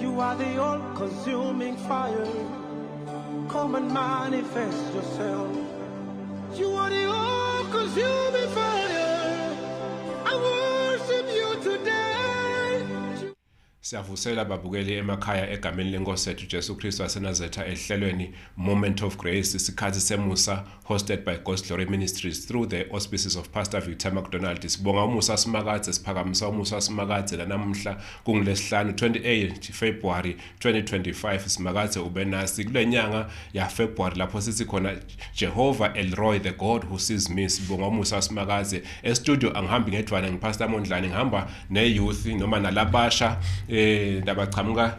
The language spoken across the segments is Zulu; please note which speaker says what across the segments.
Speaker 1: You are the all-consuming fire. Come and manifest yourself. You are the all-consuming fire. I worship you today.
Speaker 2: Siyavusela babukeli emakhaya egameni lenkosi yethu Jesu Kristu waseNazaretha ehlelweni Moment of Grace isikhathi semusa hosted by God's Glory Ministries through the auspices of Pastor Victor McDonald. Sibonga umusa simakadze siphakamisa umusa simakadze lanamuhla kungilesihlanu 28 February 2025 simakadze ube nasi kule nyanga ya February lapho sithi khona Jehovah Elroy the God who sees me sibonga umusa simakadze e studio angihambi ngedwana ngipastor Mondlane ngihamba ne youth noma nalabasha eh labaqhamuka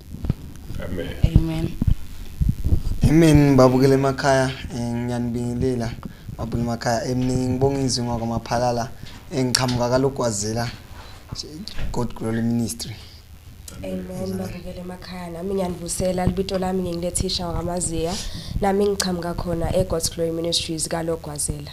Speaker 2: Amen.
Speaker 3: Amen. Amen babukele emakhaya eh, ngiyanibingelela babukele emakhaya eminingi ngibonga izwi ngwakwamaphalala engiqhamuka eh, kalogwazela God Glory Ministry Amen
Speaker 4: babukele emakhaya nami ngiyanibusela libito lami ngingilethisha wakamaziya nami ngiqhamuka khona eGod's Glory Ministries kalogwazela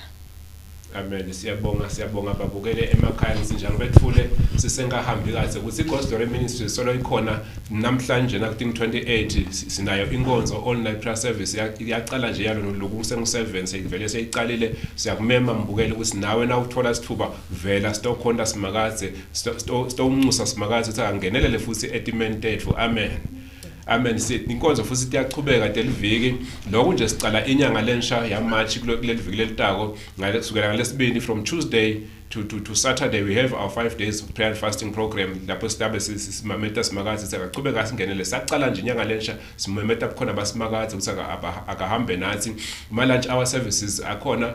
Speaker 4: Amen
Speaker 2: siyabonga siyabonga babukele emakhaya ngisinjalo bethule sisengahambi kahle ukuthi iGhost Glory Ministry solo ikhona namhlanje na kuThing 28 sinayo inkonzo all night prayer service yaqala nje yalo lokhu kusengu 7 seyivele seyiqalile siyakumema mbukele ukuthi nawe na uthola isithuba vela stokhonta simakadze stonxusa simakadze ukuthi angenelele futhi etimeni tethu amen Amen sithi inkonzo futhi iyachubeka deliviki lokho nje sicala inyanga lensha ya March kuleli viki lelitako ngale kusukela ngalesibini from Tuesday to to to Saturday we have our 5 days of prayer and fasting program lapho sidabe simameta simakazi sakachubeka singenele saqala nje inyanga lensha simameta kukhona basimakazi ukuthi akahambe nathi ma lunch hour services akhona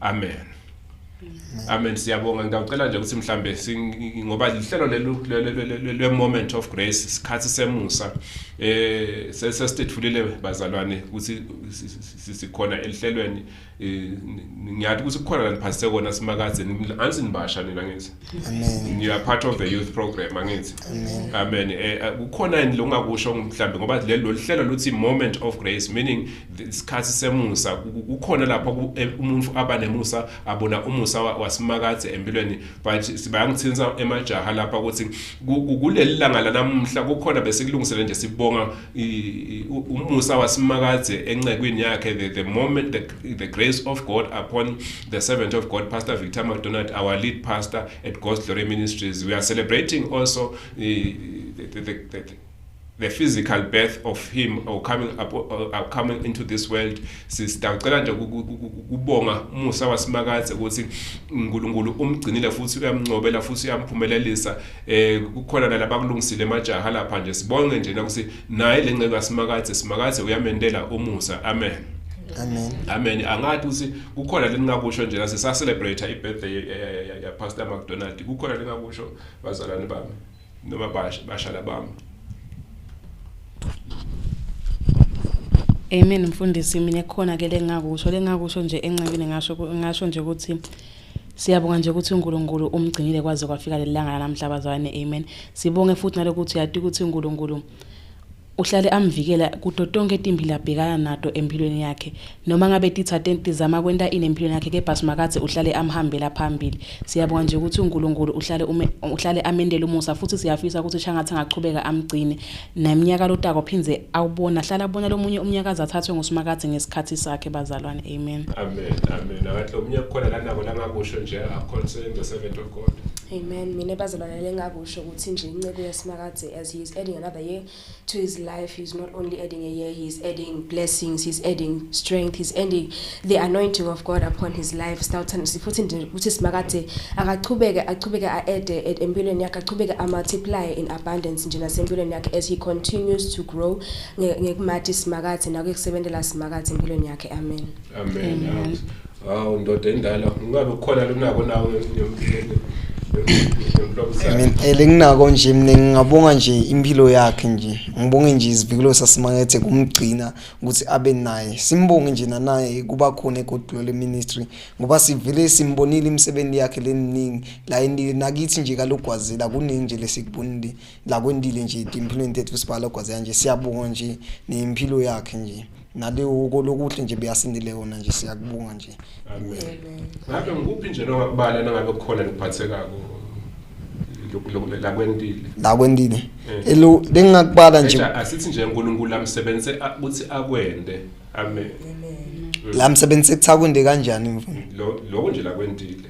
Speaker 2: amen amen siyabonga ngicela nje ukuthi mhlambe ngoba lihlelo lelo le moment of grace sikhathi semusa eh sesesithulile bazalwane ukuthi sikhona elihlelweni eh, ngiyathi ukuthi kukhona la niphathise kona simakazeni ansinibasha nina ngithi Amen. You are part
Speaker 3: of the youth
Speaker 2: program angithi. Amen. Amen. Eh, eh, kukhona yini longakusho mhlambe ngoba lelo lihlelo luthi moment of grace meaning isikhathi semusa kukhona lapho eh, umuntu aba nemusa abona umusa wasimakade empilweni but sibayangithinsa emajaha lapha ukuthi kuleli langa lanamuhla kukhona bese kulungisele nje sibonga umusa wasimakaze encekwini yakhe the, the moment the, the grace of god upon the servant of god pastor victor madonald our lead pastor at ghost glory ministries we are celebrating also uh, the, the, the, the, the physical birth of him or coming up or uh, coming into this world sisicela nje kubonga umusa wasimakaze ukuthi uNkulunkulu umgcinile futhi uyamncobela futhi uyamphumelelisa eh kukhona nalabo akulungisile emajaha lapha nje sibonge nje ukuthi naye lenceku asimakathe simakathe uyamentela umusa amen amen
Speaker 3: amen angathi
Speaker 2: ukuthi kukhona leningakusho nje nase sa celebrate i birthday ya pastor McDonald kukhona leningakusho bazalwane bami noma basha basha labami
Speaker 5: Amen mfundisi mina khona ke lengakusho lengakusho nje enxebile ngasho ngasho nje ukuthi Siyabonga nje ukuthi uNkulunkulu umgcinile kwaze kwafika lelanga lanamhla bazalwane amen. Sibonge futhi nalokuthi yati ukuthi uNkulunkulu uhlale amvikela kuto tonke timbi labhekana nato empilweni yakhe noma ngabe tithathe tizama kwenta ini empilweni yakhe kepha simakadze uhlale amhambela phambili siyabonga nje ukuthi uNkulunkulu uhlale ume, uhlale amendela umusa futhi siyafisa ukuthi shangathi angachubeka amgcine Naye mnyaka lotako phindze awubona hlala bona lomunye umnyakazi athathwe ngusimakadze ngesikhathi sakhe bazalwane amen. Amen amen akahle
Speaker 2: omunye kukhona lanako langakusho nje akhonse the servant of God. Amen mina bazalwane
Speaker 4: lengakusho ukuthi nje inceku yasimakadze as he is adding another year to his life he is not only adding a year he is adding blessings he is adding strength he is adding the anointing of God upon his life sawuthanda sifuthi nje ukuthi simakade akachubeke achubeke aede e, empilweni yakhe achubeke amultiply in abundance nje nasempilweni yakhe as he continues to grow ngekumathi simakade nakukusebenzela simakade empilweni yakhe amen amen, amen. Hawu
Speaker 2: ndoda endala ungabe ukhona lunako nawe
Speaker 3: ngempela enginako nje mina ngingabonga nje impilo yakhe nje ngibonge nje izivikelo sasimakethe kumgcina ukuthi abe naye simbonge nje nanaye kuba khona egodolo leministry ngoba sivele simbonile imisebenzi yakhe leminingi la endile nakithi nje kalogwazela kuningi nje lesikubonile la kwendile nje impilweni tethu sibhala ogwazela nje siyabonga nje nempilo yakhe nje naleyo kolokuhle nje beyasindile yona nje siyakubonga nje Amen.
Speaker 2: Ngabe ngikuphi nje nongakubala nangabe kukhona ngiphathekako lakwendile lakwendile eh. elo bengingakubala nje asithi nje uNkulunkulu amsebenzise ukuthi akwende amen la
Speaker 3: msebenzi sekuthakwenze kanjani mfana lokho nje lakwendile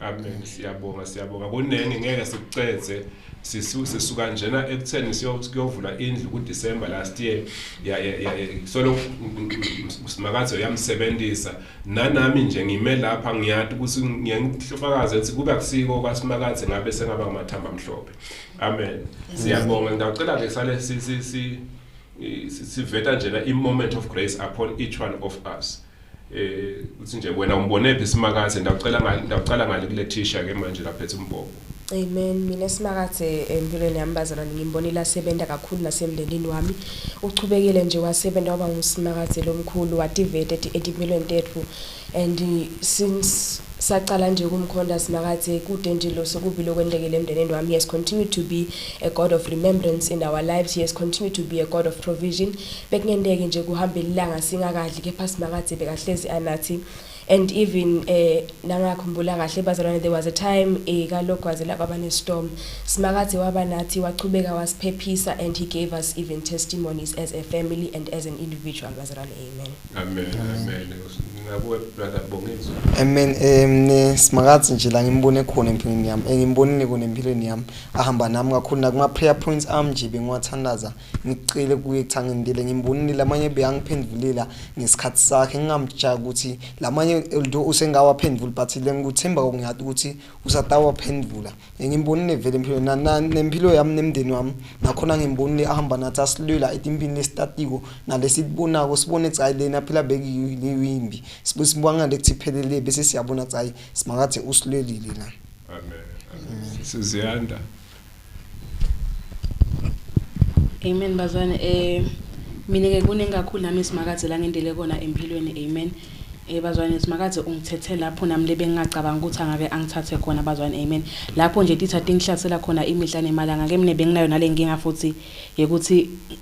Speaker 3: Amen
Speaker 2: siyabonga siyabonga kunenge ngeke sikuceze sisuse suka njena ekutheni siyovula indlu ku December last year ya ya solo simakathe uyamsebenzisa nanami nje ngime lapha ngiyati ukuthi ngiyangifakaza ukuthi kuba kusiko kwasimakathe ngabe sengaba ngamathamba amhlophe amen siyabonga ngicela ke sale si si siveta njena i moment of grace upon each one of us eh uthi nje wena umbonephi simakathe ndawucela ngale ndawucala ngale kule thisha ke manje laphethe umbhobo Amen mina
Speaker 4: simakathe empilweni yami bazalwane ngimbonile asebenza kakhulu nasemndenini wami uchubekile nje wasebenza waba ngusimakathe lomkhulu wativete etimpilweni tethu and since saqala nje ukumkhonda simakathe kude nje lo sokubi lokwendekile emndenini wami yes continue to be a god of remembrance in our lives yes continue to be a god of provision Bekungenteki nje kuhambela ilanga singakadli kepha Simakadze bekahlezi anathi and even eh nangakhumbula kahle bazalwane there was a time eh kalogwaze la kwaba nestorm Simakadze waba nathi wachubeka wasiphephisa and he gave us even testimonies as a family and as an individual bazalwane amen amen
Speaker 2: amen ngakuwe brother Bongizo
Speaker 3: amen um Simakadze nje la ngimbone khona empilweni yami engimbonile kona empilweni yami ahamba nami kakhulu nakuma prayer points am nje bengiwathandaza Ngicele kuye cha ngindile ngimbonile lamanye beyangiphendulila ngesikhathi sakhe ngingamjaki ukuthi lamanye although usengawaphendvuli but le ngikuthemba ngiyati ukuthi usatawaphendvula ngimbonile vele empilweni na, na, nempilo yami nemndeni wami nakhona ngimbonile ahamba nathi asilwela etimpini lesitatiko nalesibonako sibone cha lena phela bekiyimbi sibanga lekuthi iphelele bese siyabona cha simakathi usilwelile la amen,
Speaker 2: amen. siziyanda
Speaker 5: Amen bazane eh mina ke kuningi kakhulu nami simakadze la ngendele kona empilweni amen eh bazwane simakadze ungithethe lapho nami lebe ngingacabanga ukuthi angake angithathe khona bazwane amen lapho nje titha tingihlasela khona imihla nemalanga ke mina benginayo nalenkinga futhi yekuthi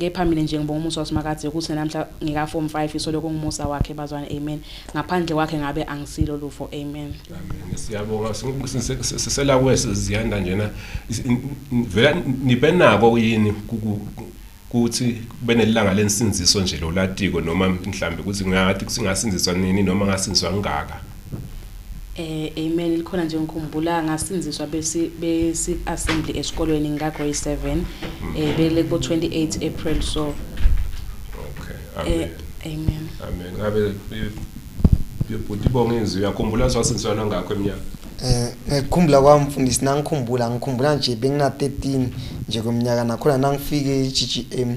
Speaker 5: Kepha mina nje ngibonga umusa waSimakadze ukuthi namhla ngika form 5 isole kungumusa wakhe bazwana amen. Ngaphandle kwakhe ngabe angisilo lufo amen. Amen. Siyabonga
Speaker 2: sisela kwese ziyanda njena vela nibenako yini kuthi benelanga lensinziso nje lolatiko noma mhlambe ukuthi ngathi kusingasindiswa nini noma ngasindiswa ngaka. Eh,
Speaker 5: amen likhona nje ngikhumbula ngasinziswa besi besi assembly esikolweni ngika grade 7 eh bele ko 28 April so okay
Speaker 2: eh, amen
Speaker 5: amen ngabe
Speaker 2: bebhuti bonge inzwi uyakhumbula swasinziswa nangakho eminyaka eh ngikhumbula
Speaker 3: kwami mfundisi nangikhumbula ngikhumbula nje bengina 13 nje kweminyaka nakhona nangifike eGGM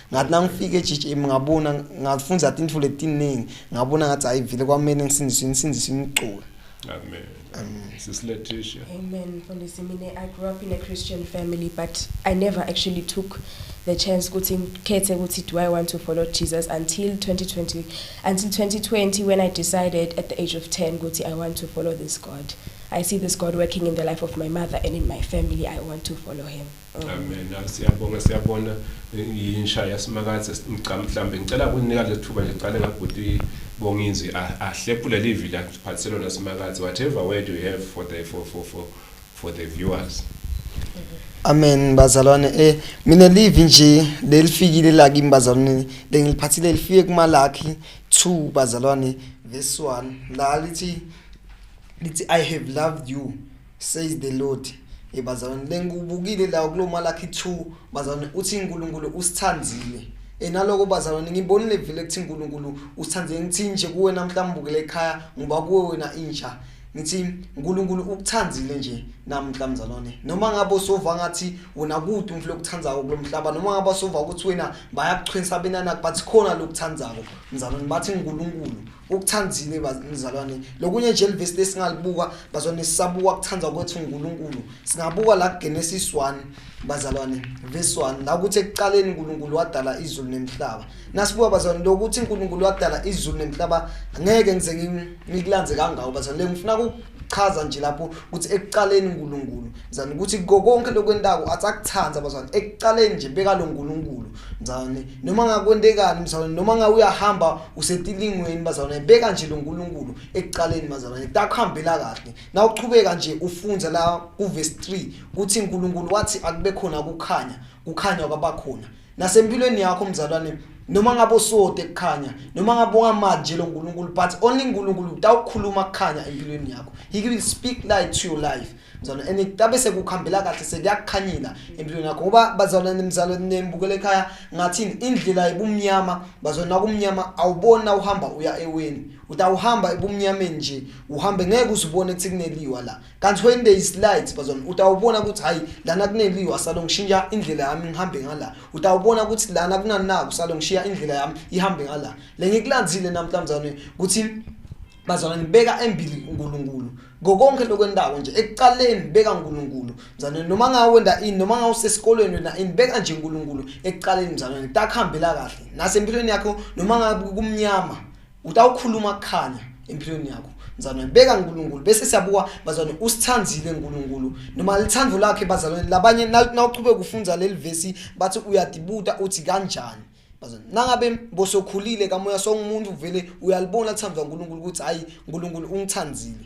Speaker 3: ngathi nangifika eGGM ngabona ngafunda into letiningi ngabona ngathi ayivile kwamele ngisindiswe ngisindiswe imculo amen
Speaker 2: Amen. Sis Letitia. Amen. Mfundisi
Speaker 4: mina I grew up in a Christian family but I never actually took the chance ukuthi ngikhethe ukuthi do I want to follow Jesus until 2020 until 2020 when I decided at the age of 10 ukuthi I want to follow this God. I see this God working in the life of my mother and in my family. I want to follow him. Amen.
Speaker 2: Siyabonga siyabona insha yasimakaze ngicama mhlambe ngicela kunika lethuba nje qale ngabhuti bongizwi ahlepule livi la phatselo nasimakaze whatever word you have for the for for for for the viewers.
Speaker 3: Amen bazalwane eh mina live nje lelifikile la kimi bazalwane lengiliphathile lifike kumalakhi 2 bazalwane verse 1 la lithi lithi i have loved you says the lord hey bazalwane lengikubukile la kulo malakhi 2 bazalwane uthi uNkulunkulu usithandile enaloko bazalwane ngibonile vele ukuthi uNkulunkulu usithandile ngithi nje kuwe namhlanje ubukele ekhaya ngoba kuwe wena inja ngithi uNkulunkulu ukuthandile nje namhla mzalwane noma ngabe usova ngathi wona kude umflo okuthandzako kulomhlaba noma ngabe usova ukuthi wena bayakuchwensa benana but khona lokuthandzako mzalwane bathi uNkulunkulu ukuthandile bazalwane lokunye nje livesi lesingalibuka bazalwane sisabuka kuthanda kwethu uNkulunkulu singabuka la Genesis 1 bazalwane verse 1 la ukuthi ekuqaleni uNkulunkulu wadala izulu nemhlaba nasibuka bazalwane lokuthi uNkulunkulu wadala izulu nemhlaba ngeke ngize ngikulanze kangako bazalwane ngifuna chaza nje lapho ukuthi ekuqaleni uNkulunkulu mzane ukuthi konke lokwentako athi akuthanda abazane ekuqaleni nje beka lo nkulunkulu mzane noma ngakwentekani mzane noma ngawe uyahamba usetilingweni bazane beka nje lo nkulunkulu ekuqaleni bazane takuhambela kahle na uqhubeka nje ufunza la ku verse 3 ukuthi uNkulunkulu wathi akube khona ukukhanya kukhanya kwabakhona nasempilweni yakho mzalwane noma ngabe usode kukhanya noma ngabe ungamanje lo nkulunkulu but only nkulunkulu utawukhuluma kukhanya empilweni yakho he will speak light to your life mzalwane and kutabe sekukhambela kahle sekuyakukhanyela empilweni yakho ngoba bazalwane mzalwane nembukele ekhaya ngathini indlela ibumnyama bazalwane nakumnyama awubona uhamba uya eweni utawuhamba ebumnyameni nje uhambe ngeke uzibone ukuthi kuneliwa la kanti when there is light bazona utawubona ukuthi hayi lana kuneliwa salo ngishintsha indlela yami ngihambe ngala utawubona ukuthi lana kunanaku salo ngishiya indlela yami ihambe ngala le ngikulandzile namhlanje ukuthi bazona ngibeka embili uNkulunkulu ngokonke lokwendawo nje ekuqaleni beka uNkulunkulu mzalwane noma ngawenda ini noma ngawusesikolweni wena ini beka nje uNkulunkulu ekuqaleni mzalwane takuhambela kahle nasempilweni yakho noma ngabe kumnyama utawukhuluma kukhanya empilweni yakho mzalwane beka nkulunkulu bese siyabuka bazalwane usithandile nkulunkulu noma lithandvo lakhe bazalwane labanye nawuchubeka ufunza leli vesi bathi uyadibuta uthi kanjani bazalwane nangabe bosokhulile kamoya songumuntu vele uyalibona lithandwa nkulunkulu ukuthi hhayi nkulunkulu ungithandile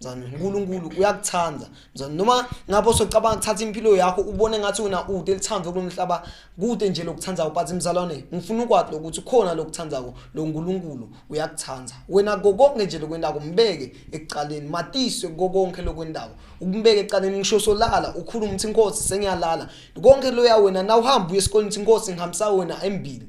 Speaker 3: mzane uNkulunkulu uyakuthanda mzane noma ngabe usocabanga ukuthatha impilo yakho ubone ngathi wena ude elithando kulomhlaba kude nje lokuthanda but mzalwane ngifuna ukwazi lokuthi khona lokuthandako lo uNkulunkulu uyakuthanda wena kokonke nje lokwendako mbeke ekuqaleni matiswe kokonke lokwendako ukumbeke ekuqaleni ngisho solala ukhuluma ukuthi inkosi sengiyalala konke loya wena na uhamba uye esikoleni ukuthi inkosi ngihambisa wena embili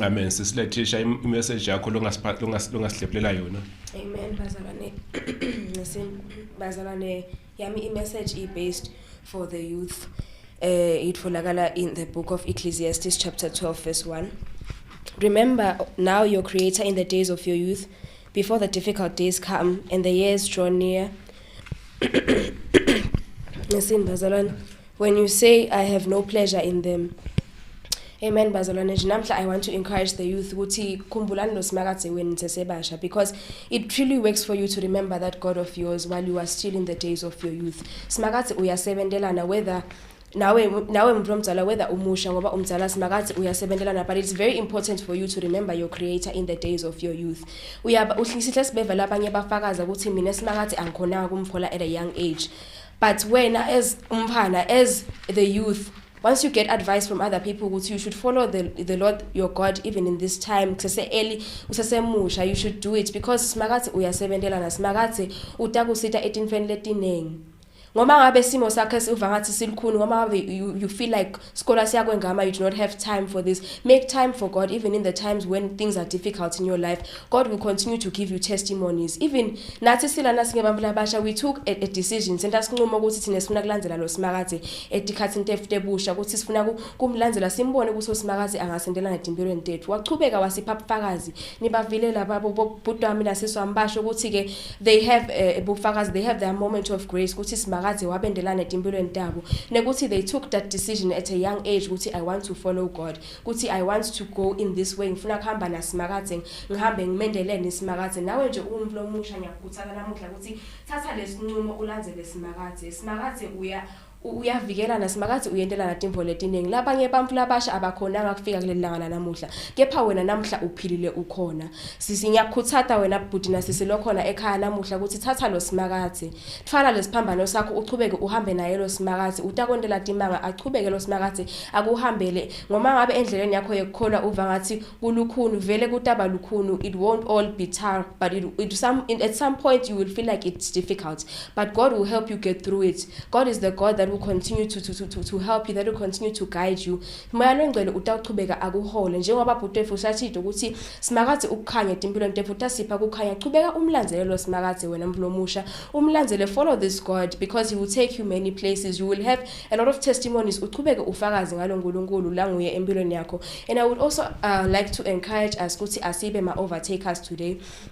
Speaker 2: Amen sisilethisha imessage yakho longasiphatha longasihlephelela yona. Amen bazalwane.
Speaker 4: Ngisin bazalwane yami imessage i based for the youth. Eh itholakala in the book of Ecclesiastes chapter 12 verse 1. Remember now your creator in the days of your youth before the difficult days come and the years draw near. Ngisin bazalwane. When you say I have no pleasure in them Amen bazalwane nje namhla I want to encourage the youth ukuthi khumbulani lo simakadze wenu sesebasha because it truly works for you to remember that God of yours while you are still in the days of your youth simakadze uyasebendelana whether nawe nawe mntu omdala whether umusha ngoba umdala simakathi uyasebenzelana but it's very important for you to remember your creator in the days of your youth uyaba uhlisihle sibeva labanye bafakaza ukuthi mina simakathi angikhonanga kumfola at a young age but wena as umphana as the youth once you get advice from other people ukuthi you should follow the, the lord your god even in this time kusese-early usesemusha you should do it because simakathi uyasebentelana simakathi utakusita etinfeni letiningi ngoba ngabe simo sakhe siva ngathi silukhuni ngoba ngabe you, you feel like Scola siyakwengama you do not have time for this. Make time for God even in the times when things are difficult in your life. God will continue to give you testimonies. Even nathi silana singebantu labasha we took a, a decision senza sinqumo ukuthi thina sifuna kulandzela lo simakade etikhathi intefute busha ukuthi sifuna kumlandzela simbone ukuthi usimakade angasendelana netimpilweni tethu. Waqhubeka wasipha ubufakazi nibavile laba bhuti wami nasisi wami basho ukuthi-ke they have eh, ubufakazi uh, they have their moment of grace ukuthi simakaze wabendelane etimpilweni tabo nekuthi they took that decision at a young age ukuthi i want to follow god ukuthi i want to go in this way ngifuna kuhamba nasimakaze ngihambe ngimendelene isimakaze nawe nje uwumuntu lomusha ngiyakukhuthala namuhla ukuthi thatha lesinqumo ulandele simakaze simakaze uya uyavikelana simakazi uyentelana timvo letiningi labanye bantfu labasha abakhonanga kufika kuleli langa lanamuhla kepha wena namuhla uphilile ukhona sisi ngiyakukhuthata wena bhuti nasisi lokhona ekhaya namuhla ukuthi thatha lo simakazi thwala lesiphambano sakho uchubeke uhambe naye lo simakazi utakwentela timanga achubeke lo simakazi akuhambele ngoma ngabe endleleni yakho yekukholwa uva ngathi kulukhuni vele kutaba lukhuni it won't all be tar but it, it some, at some point you will feel like it's difficult But God will help you get through it. God is the God that will continue to, to, to, to help you, that will continue to guide you. Moya longcwele utawuchubeka akuhole njengoba bhuti wethu usashito ukuthi simakadze ukukhanya timpilweni tethu utasipha kukhanya chubeka umlandzele lo simakadze wena mlomusha umlandzele follow this God because he will take you many places you will have a lot of testimonies uchubeke ufakazi ngalo Nkulunkulu la nguye empilweni yakho and I would also uh, like to encourage us ukuthi asibe ma overtakers today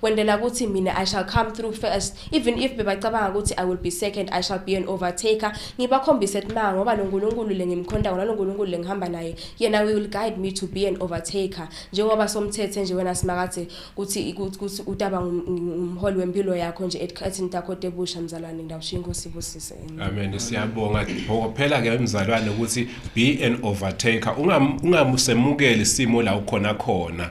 Speaker 4: kwendela ukuthi mina i shall come through first even if bebacabanga ukuthi i will be second i shall be an overtaker ngibakhombise ukuthi ma ngoba lo nkulunkulu le ngimkhonda ngona lo nkulunkulu le ngihamba naye yena we will guide me to be an overtaker njengoba somthethe nje wena simakade ukuthi ukuthi utaba ngumholi wempilo yakho nje esikhathini takho tebusha mzalwane ngiyawushiya inkosi ibusise amen siyabonga
Speaker 2: phela ke mzalwane ukuthi be an overtaker ungamusemukeli isimo la ukhona khona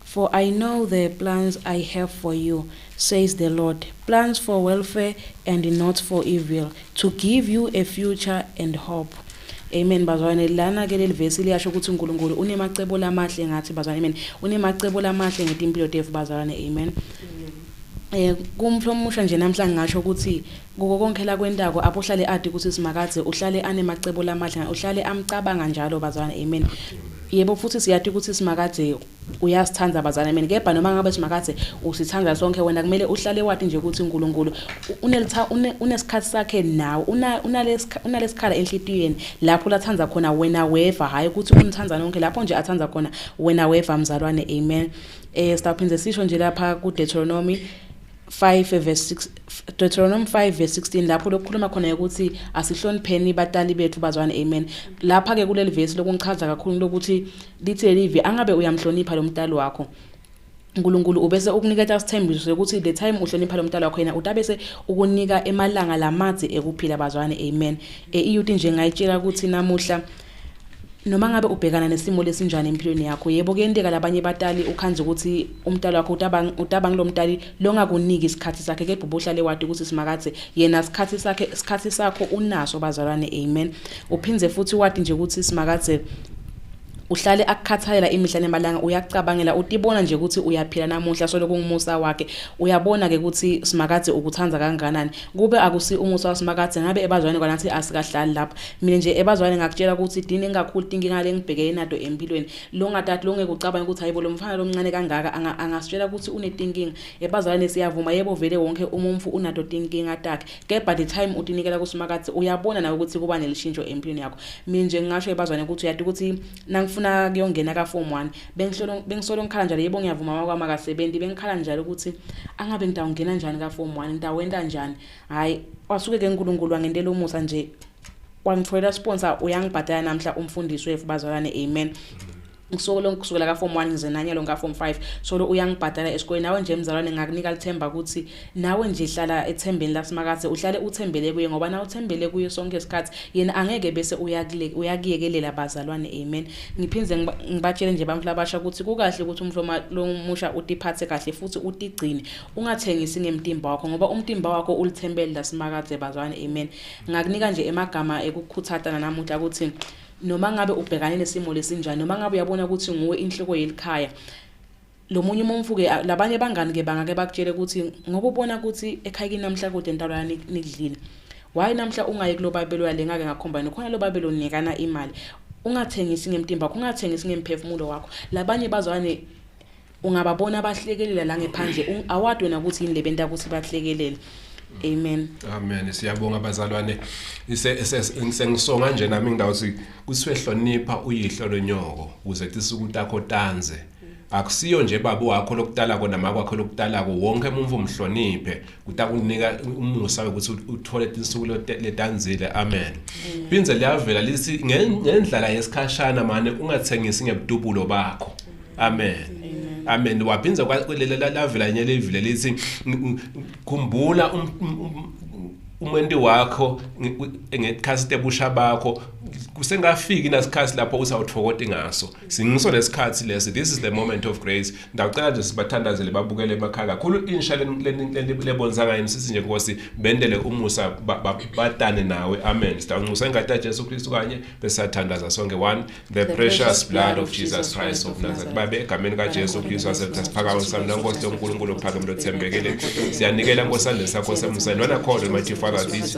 Speaker 5: For I know the plans I have for you, says the Lord, plans for welfare and not for evil, to give you a future and hope. Amen bazwane lana ke leli verse liyasho ukuthi uNkulunkulu unemacebo lamahle ngathi bazwane amen unemacebo lamahle ngetimpilo tethu bazalwane amen eh kumflo omusha nje namhla ngisho ukuthi kuko konke la kwentako apho uhlale adi ukuthi simakadze uhlale anemacebo lamahle uhlale amcabanga njalo bazalwane amen yebo futhi siyathi ukuthi simakadze uyasithanda bazane mina kepha noma ngabe simakathe usithanda sonke wena kumele uhlale wathi nje ukuthi uNkulunkulu unelitha unesikhathi sakhe nawe unalesikhala enhlitiyweni lapho lathanda khona wena weva hayi ukuthi umthanda nonke lapho nje athanda khona wena weva mzalwane amen eh siphinde sisho nje lapha ku Deuteronomy 5 verse 6 Deuteronomy 5 verse 16 lapho lokukhuluma khona ukuthi asihlonipheni batali bethu bazwane amen lapha ke kuleli verse lokungichaza kakhulu lokuthi Lithe livi angabe uyamhlonipha lo mdali wakho. uNkulunkulu ubese ukuniketa isithembiso sokuthi the time uhlonipha lo mntala wakho yena utabese ukunika emalanga lamadzi ekuphila bazwane amen e iyuti nje ngayitshela ukuthi namuhla noma ngabe ubhekana nesimo lesinjani empilweni yakho yebo kuyenteka labanye batali ukhanze ukuthi umntalo wakho utabang utabang lo mntali longakuniki isikhathi sakhe kepha ubuhlale wadi ukuthi simakathe yena isikhathi sakhe isikhathi sakho unaso bazalwane amen uphindze futhi wadi nje ukuthi simakathe uhlale akukhathalela imihla nemalanga uyakucabangela utibona nje ukuthi uyaphila namuhla solo kungumusa wakhe uyabona ke ukuthi simakadze ukuthanda kanganani kube akusi umusa wasimakathi ngabe ebazwane kwanathi asikahlali lapha mina nje ebazwane ngakutshela ukuthi dini engakhulu inkinga lengibhekene nato empilweni lo ngatati lo ngeke ucabanga ukuthi hayibo lo mfana lomncane kangaka angasitshela ukuthi unetinkinga ebazwane siyavuma yebo vele wonke umumfu unato tinkinga takhe Kepha the time utinikela kuSimakadze uyabona nawe ukuthi kuba nelishintsho empilweni yakho. Mina nje ngingasho ebazwane ukuthi uyati ukuthi nangifuna kuyongena ka form 1 bengisolo bengisolo ngikhala njalo yebo ngiyavuma mama kwami akasebenzi bengikhala njalo ukuthi angabe ngitawungena njani ka form 1 ngitawenta njani. Hayi wasuke ke uNkulunkulu wangentela umusa nje wangitholela sponsor uyangibhadala namhla umfundisi wethu bazalwane amen. ngisolo ngikusukela ka form 1 ngize nanye lonka form 5 solo uyangibhadala esikoleni nawe nje mzalwane ngakunika lithemba ukuthi nawe nje hlala ethembeni lasimakathe uhlale uthembele kuye ngoba na uthembele kuye sonke isikhathi yena angeke bese uyakule uyakiyekelela bazalwane amen ngiphinze ngibatshele nje bamfla basha ukuthi kukahle ukuthi umhloma lomusha utiphathe kahle futhi utigcine ungathengisi ngemtimba wakho ngoba umtimba wakho ulithembele lasimakathe bazalwane amen ngakunika nje emagama ekukhuthata namuhla ukuthi noma ngabe ubhekane nesimo lesinjani noma ngabe uyabona ukuthi nguwe inhloko yelikhaya lo munye umumfu ke labanye bangani ke bangake bakutshele ukuthi ngoba ubona ukuthi ekhaya kinamhla kude ntalo yani nikudlile why namhla ungayi kulobabelo yale ngake ngakhomba nokhona lobabelo nikana imali ungathengisi ngemtimba ungathengisi ngemphefumulo wakho labanye bazwane ungababona abahlekelela la ngephandle Un- awadi wena ukuthi yini le benta ukuthi bahlekelele amen Amen. Siyabonga
Speaker 2: bazalwane. Ise se- sengisonga nje nami ngidawuthi kusiwe hlonipha uyihlo lonyoko ukuze tisa ukutakho tanze. Akusiyo nje baba wakho lokutala kona makwakho lokutala ko wonke umuntu umhloniphe kutakunika umusa ukuthi uthole insuku letanzile amen mm. phindze liyavela lithi ngendlala yesikhashana mane ungathengisi ngebudubulo bakho amen amen waphindze lavela enye levile lithi khumbula um, um, um, umenti wakho ngekhasi tebusha bakho kusengafiki nasikhathi lapho usawuthokoti ngaso singiso lesikhathi lesi this is the moment of grace ndacela nje sibathandazele babukele emakhaya kakhulu insha lebonisa ngayo sisi nje nkosi bendele umusa batane nawe amen sidancusa ingadi yaJesu Kristu kanye besathandaza sonke one the precious blood of Jesus Christ of Nazareth babe egameni kaJesu Kristu asemthatha siphakama sami nankosi loNkulunkulu ophakeme lothembekele siyanikela nkosandle sakho semusa nona khona mighty father this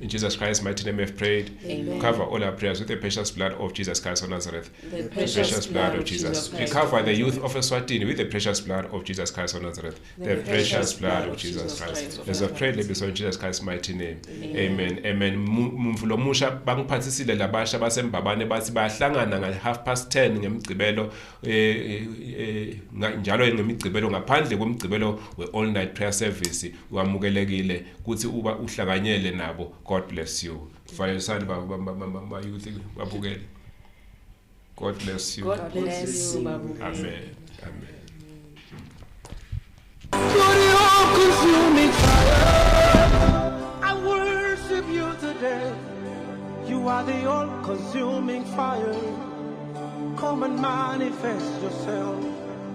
Speaker 2: In Jesus Christ's mighty name we have prayed. Amen. Cover all our prayers with the precious blood of Jesus Christ of Nazareth. The precious, the precious blood, blood of Jesus. Jesus we cover the youth of Eswatini with the precious blood of Jesus Christ of Nazareth. The, the precious blood of Jesus Christ. As I pray, let me in Jesus Christ's mighty name. Amen. Amen. Mvulo musha bangiphathisile labasha basembabane bathi bahlangana ngal half past 10 ngemgcibelo eh, eh, eh njalo ngemigcibelo ngaphandle komgcibelo we all night prayer service wamukelekile kuthi uba uhlanganyele nabo god bless you vayesani bayouth babukele god bless
Speaker 5: you
Speaker 1: god bless you amen amen You are the all-consuming fire. Come and manifest yourself.